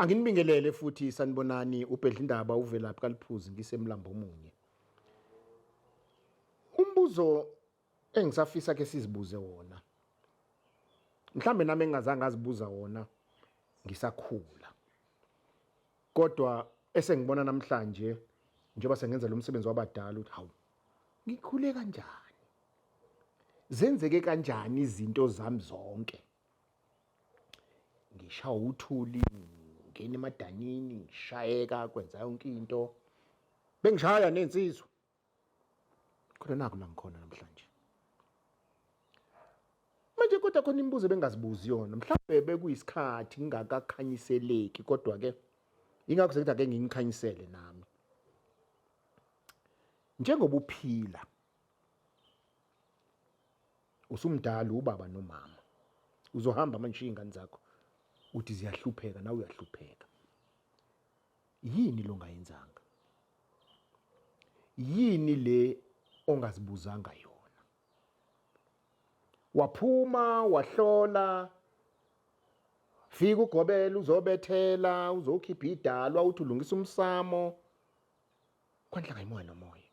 Anginibingelele futhi sanibonani ubhedlindaba uvelaphi kaliphuzi ngisemlambo omunye. Umbuzo engisafisa ke sizibuze wona. Mhlambe nami engingazange azibuza wona ngisakhula. Kodwa esengibona namhlanje njengoba sengenza lo msebenzi wabadala ukuthi hawu ngikhule kanjani zenzeke kanjani izinto zami zonke ngishawa uthuli ngena emadanini ngishayeka kwenza yonke into bengishaya nensizwa kodwa naku la ngikhona namhlanje manje kodwa khona imibuzo bengazibuzi yona mhlawumbe bekuyisikhathi ngingakakhanyiseleki kodwa ke ingakho sekuthi ake ngingikhanyisele nami njengoba uphila usumdala ubaba nomama uzohamba manje ushiye ingane zakho uthi ziyahlupheka nawe uyahlupheka yini lo ngayenzanga yini le ongazibuzanga yona waphuma wahlola fika ugobela uzobethela uzokhipha idalwa uthi ulungisa umsamo kwanhlanga imoya nomoya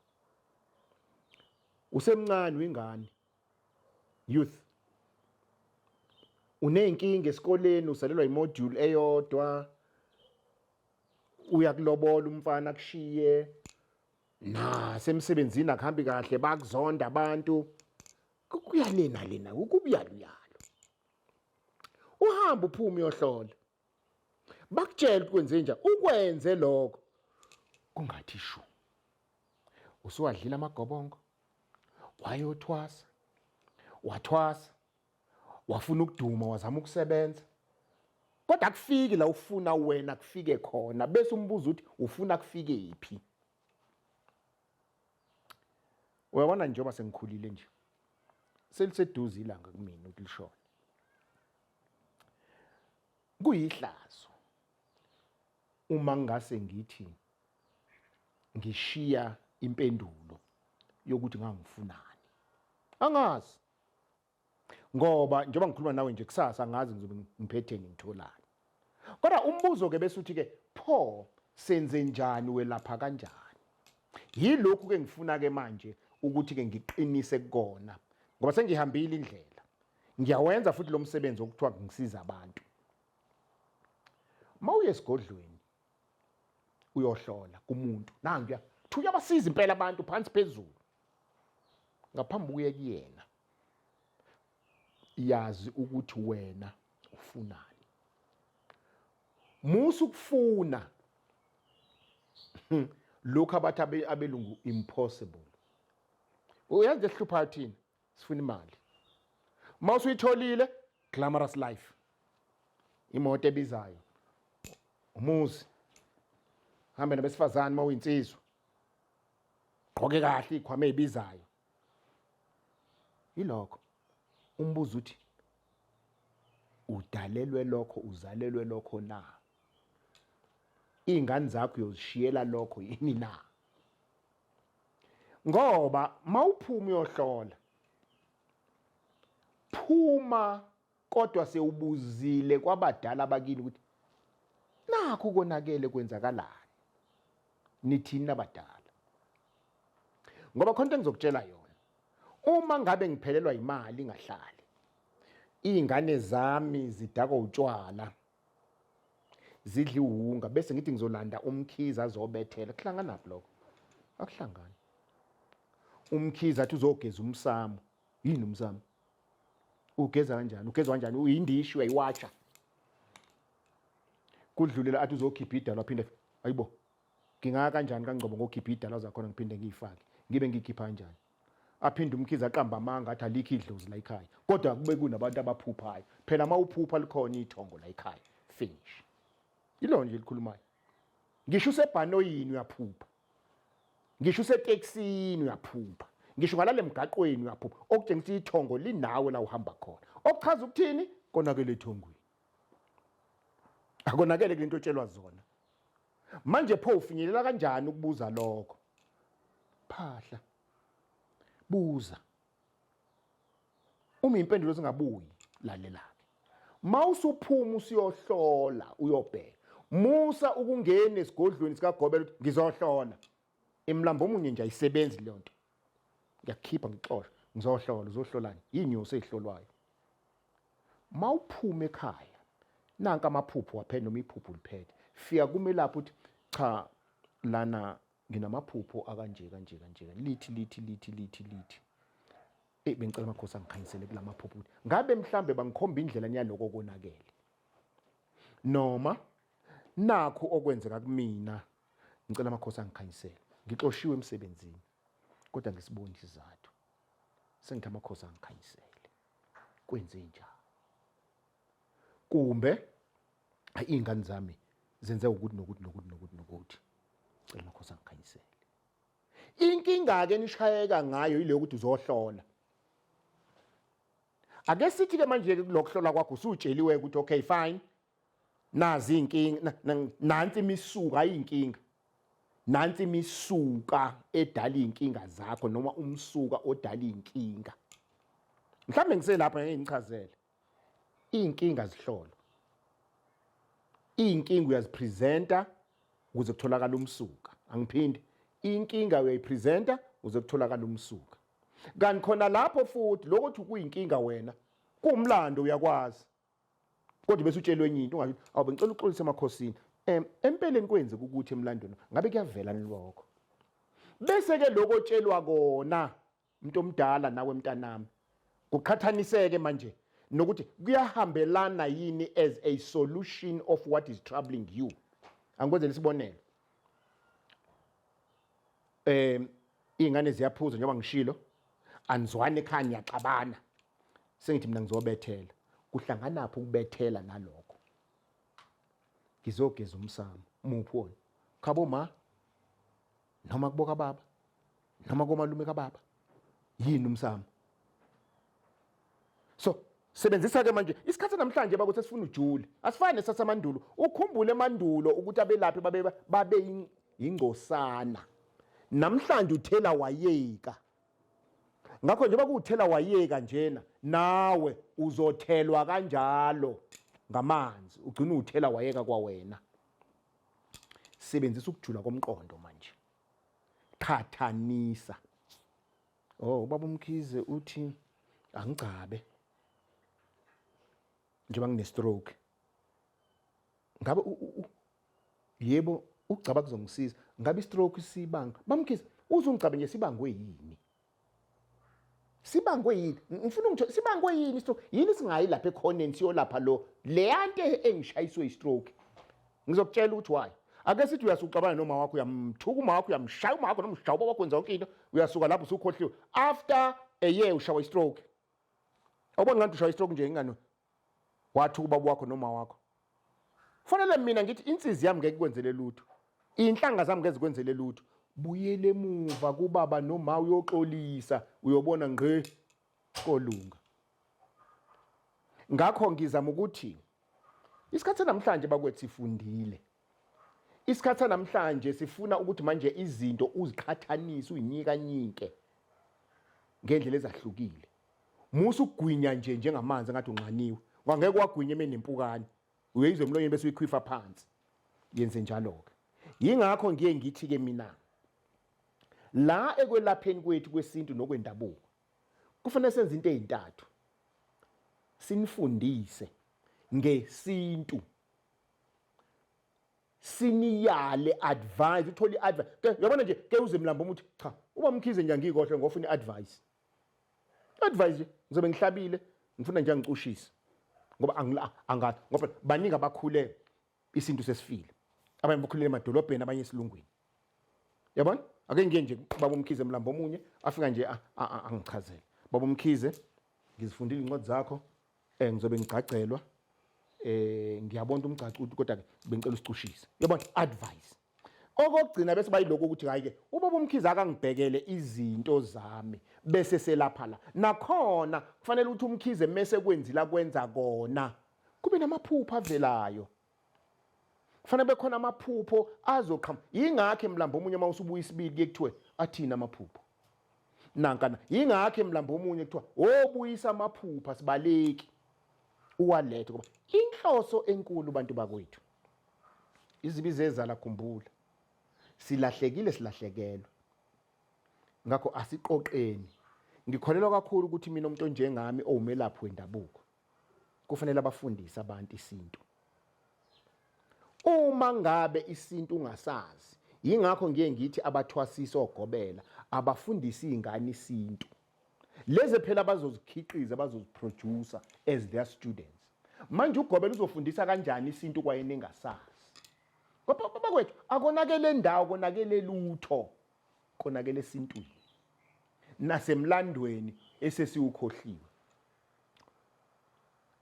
usemncane wingane youth uneyinkinga esikoleni usalelwa imodule eyodwa uyakulobola umfana kushiye nasemsebenzini akuhambi kahle bakuzonda abantu kuyalena lena ukubuyaluyalo uhamba uphuma uyohlola bakutshela ukuthi kwenzenja ukwenze lokho kungathi shu usuwadlile amagobongo wayothwasa wathwasa wafuna ukuduma wazama ukusebenza kodwa kufiki la ufuna wena kufike khona bese umbuza ukuthi ufuna kufike yiphi uyabona njengoba sengikhulile nje seliseduze ilanga kumina ukuthi lishone Kuyihlazo uma ngase ngithi ngishiya impendulo yokuthi ngangifunani. Angazi. Ngoba njengoba ngikhuluma nawe nje kusasa angazi ngizobe ngiphethe ngitholani. Kodwa umbuzo ke bese uthi ke pho senze njani welapha kanjani? Yilokhu ke ngifuna ke manje ukuthi ke ngiqinise kona ngoba sengihambile indlela ngiyawenza futhi lo msebenzi okuthiwa ngisiza abantu mawuye esigodlweni uyohlola kumuntu nangiya thuya basiza impela abantu phansi phezulu ngaphambi kuye kuyena yazi ukuthi wena ufunani musa ukufuna lokho abathi abelungu impossible uyazi esihluphayo thina sifuna imali uma usuyitholile glamorous life imoto ebizayo umuzi hambe nabesifazane uma uyinsizwa gqoke kahle ikhwama ezibizayo yilokho umbuzo uthi udalelwe lokho uzalelwe lokho na iy'ngane zakho uyozishiyela lokho yini na ngoba mawuphuma uyohlola phuma kodwa sewubuzile kwabadala bakini ukuthi nakho konakele kwenzakalani nithini abadala ngoba khona into engizokutshela yona uma ngabe ngiphelelwa imali ingahlali iy'ngane zami zidakwa utshwala zidli wunga bese ngithi ngizolanda umkhize azobethela kuhlanganaphi lokho akuhlangani umkhize athi uzogeza umsamo yini umsamo ugeza kanjani ugeza kanjani uyindishi uyayiwatsha kudlulela athi uzokhipha idalwa phinde ayibo ngingaka kanjani kangcobo ngokhipha idalwa zakhona ngiphinde ngiyifake ngibe ngikhipha kanjani aphinde umkhize aqamba amanga athi alikho idlozi la ekhaya kodwa kube kunabantu abaphuphayo phela uma uphupha likhona ithongo la ekhaya finish ilona nje likhulumayo ngisho usebhanoyini uyaphupha ngisho useteksini uyaphupha ngisho ngalale mgaqweni uyaphupha okutshengisa ithongo linawe la uhamba khona okuchaza ukuthini konakele ethongweni akonakele kulento otshelwa zona Manje pho ufinyelela kanjani ukubuza lokho? Phahla. Buza. Uma impendulo zingabuyi lalelake. Mawusuphuma usiyohlola uyobheka. Musa ukungena esigodlweni sikaGobela ukuthi ngizohlola. Imlambo omunye nje ayisebenzi leyo nto. Ngiyakhipha ngixosha, ngizohlola, uzohlolani? Yinyosi ezihlolwayo. Mawuphuma ekhaya, nanka amaphupho waphela noma iphupho liphethe. Fika kumelaphi uthi cha lana nginamaphupho akanje kanje kanje lithi lithi lithi lithi lithi eyi bengicela amakhosi angikhanyisele kula maphupho ukuthi ngabe mhlambe bangikhomba indlela niyaloko konakele noma nakho okwenzeka kumina Ngicela amakhosi angikhanyisele. Ngixoshiwe emsebenzini kodwa ngisiboni isizathu. Sengithi amakhosi angikhanyisele. Kwenze njani? Kumbe iy'ngane zami zenze ukuthi nokuthi nokuthi nokuthi nokuthi. Cela amakhosi angikhanyisele. Inkinga-ke nishayeka ngayo yile yokuthi uzohlola. Ake sithi-ke manje-ke kulokuhlola kwakho usutsheliwe ukuthi okay fine nazi inkinga nansi imisuka ayinkinga nansi imisuka edala inkinga zakho noma umsuka odala inkinga mhlambe ngiselapha ngeke ngichazele inkinga zihlolo inkinga uyazipresenta ukuze kutholakala umsuka angiphindi inkinga uyayipresenta ukuze kutholakala umsuka kanti khona lapho futhi lokuthi kuyinkinga wena kuwumlando uyakwazi kodwa bese utshelwe enye into ungasho awu bengicela uxolise emakhosini um empeleni kwenzeka ukuthi emlandweni ngabe kuyavela nilokho bese-ke lokho otshelwa kona umuntu omdala nawe mntanami kuqhathaniseke manje nokuthi kuyahambelana yini as a solution of what is troubling you angikwenzela isibonelo um iy'ngane ziyaphuza njengoba ngishilo anizwani ekhaya niyaxabana sengithi mina ngizobethela kuhlanganaphi ukubethela nalokho ngizogeza umsamo muphi wona khabo ma noma kuboka baba noma komalume kababa yini umsamo so sebenzisa ke manje isikhathi namhlanje bakuthi esifuna ujule asifani nesasamandulo ukhumbule emandulo ukuthi abelaphi babe babe ingcosana namhlanje uthela wayeka ngakho njengoba kuwuthela wayeka njena nawe uzothelwa kanjalo ngamanzi ugcina uthela wayeka kwawena sebenzisa ukujula komqondo manje qhathanisa oh ubaba umkhize uthi angigcabe njengoba ngine-stroke ngabe yebo ukugcaba kuzomsiza ngabe istroke sibanga bamkhize uzungicaba nje sibangwe yini sibangwe yini ngifuna ukuthi sibangwe yini istroke yini singayi lapha ekhoneni siyolapha lo leyante engishayiswe istroke ngizokutshela ukuthi why ake sithi uyasucabana noma wakho uyamthuka uma wakho uyamshaya uma wakho noma ushaya uba wakho wenza yonke into uyasuka lapho usukhohliwe after a year ushawa istroke awubona ngathi ushawa istroke nje ingane wathi ubaba wakho noma wakho fanele mina ngithi insizi yami ngeke kwenzele lutho inhlanga zami ngeke zikwenzele lutho buyele emuva kubaba noma uyoxolisa uyobona ngqe kolunga ngakho ngizama ukuthi isikhathi namhlanje bakwethu sifundile Isikhathi sanamhlanje sifuna ukuthi manje izinto uziqhathanise uyinyikanyike ngendlela ezahlukile. Musa ukugwinya nje njengamanzi engathi unxaniwe. Ngangeke wagwinya emeni nempukane. Uyeyizwe emlonyeni bese uyikhwifa phansi. Yenze njalo ke. Yingakho ngiye ngithi ke mina la ekwelapheni kwethu kwesintu nokwendabuko kufanele senze into ezintathu. Sinifundise ngesintu siniyale advice uthole iadvice ke yabona nje ke uze mlambo umuthi cha uba mkhize nje angikohle ngofuna iadvice advice nje ngizobe ngihlabile ngifuna nje angicushise ngoba angila angathi ngoba baningi abakhule isintu sesifile abanye bakhulele emadolobheni abanye esilungwini yabona ake ngiye nje baba umkhize mlambo omunye afika nje angichazele baba umkhize ngizifundile incwadi zakho eh ngizobe ngigcagcelwa eh ngiyabona umgcacu ukuthi kodwa ke bengicela usicushise yabona advice okugcina bese bayiloko ukuthi hayi ke ubaba umkhize akangibhekele izinto zami bese selapha la nakhona kufanele ukuthi umkhize mese kwenzila kwenza kona kube namaphupha avelayo kufanele bekhona amaphupho azoqhamuka yingakho emlambo omunye uma usubuya isibili kuye kuthiwe athini amaphupho nankana yingakho emlambo omunye kuthiwa wobuyisa amaphupha sibaleki uwalethe ngoba inhloso enkulu bantu bakwethu izibi zezala khumbula silahlekile silahlekelwe ngakho asiqoqeni ngikholelwa kakhulu ukuthi mina umuntu onjengami owumelaphi wendabuko kufanele abafundise abantu isintu uma ngabe isintu ungasazi yingakho ngiye ngithi abathwasisa ogobela abafundise izingane isintu lezi phela bazozikhiqiza bazoziproducer as their students manje ugobela uzofundisa kanjani isintu kwayena engasazi kodwa baba kwethu akonakele ndawo konakele lutho konakele esintwini nasemlandweni esesiwukhohliwe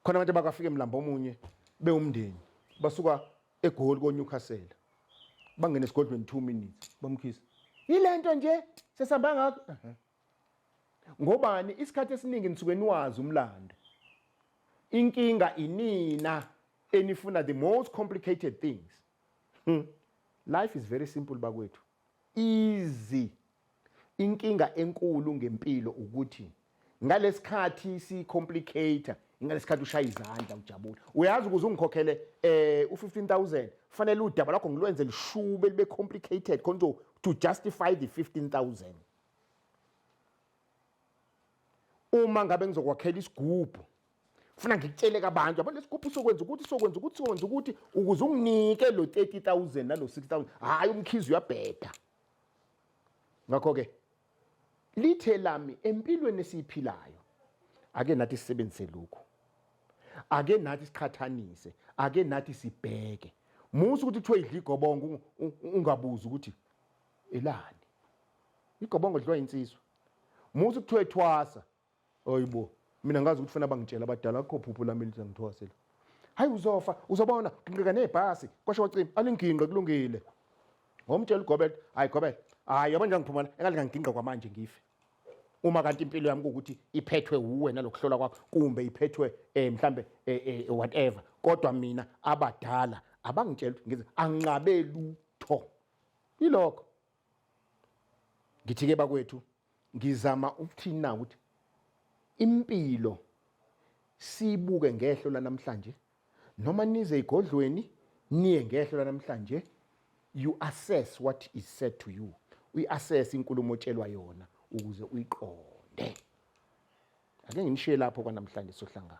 khona abantu abakafika emlambo omunye bewumndeni basuka egoli konyukhasela bangena esigodlweni 2 minutes bamkhisa yilento nje sesihamba ngakho ngobani isikhathi esiningi nisuke niwazi umlando inkinga inina enifuna the most complicated things hmm. life is very simple bakwethu Izi inkinga enkulu ngempilo ukuthi ngalesikhathi si complicator ngalesikhathi ushaya izandla ujabule uyazi ukuze ungikhokhele eh u15000 fanele udaba lakho ngilwenze lishube libe complicated khona to justify the 15000 uma ngabe ngizokwakhela isigubhu funa ngikutshele kabantu yabo lesigubhu sokwenza ukuthi sokwenza ukuthi sokwenza ukuthi ukuze unginike lo 30000 nalo 6000 hayi umkhizi uyabheda ngakho ke lithe lami empilweni esiyiphilayo ake nathi sisebenzise lokhu ake nathi siqhathanise ake nathi sibheke musa ukuthi kuthiwe idla igobongo ungabuzi ukuthi elani igobongo lidliwa insizwa musa kuthiwe thwasa Oyibo. Mina ngazi ukuthi fana bangitshela abadala akho phupho lami lithi ngithwase la. Hayi uzofa, uzobona ginqika nezibhasi. Kwasho wacima, alinginqe kulungile. Ngomtshela uGobela, hayi Gobela, hayi yabona ngiphumana engathi ngangiginqa kwamanje ngife. Uma kanti impilo yami ukuthi iphethwe uwe nalokuhlola kwakho kumbe iphethwe eh mhlambe eh, eh, whatever. Kodwa mina abadala abangitshela ukuthi ngize anqabe lutho. Ilokho. Ngithi-ke bakwethu ngizama ukuthini na ukuthi impilo siyibuke ngehlo lanamhlanje noma nize igodlweni niye ngehlo lanamhlanje you assess what is said to you uyi-assess inkulumo otshelwa yona ukuze uyiqonde ake nginishiye lapho kwanamhlanje sohlangana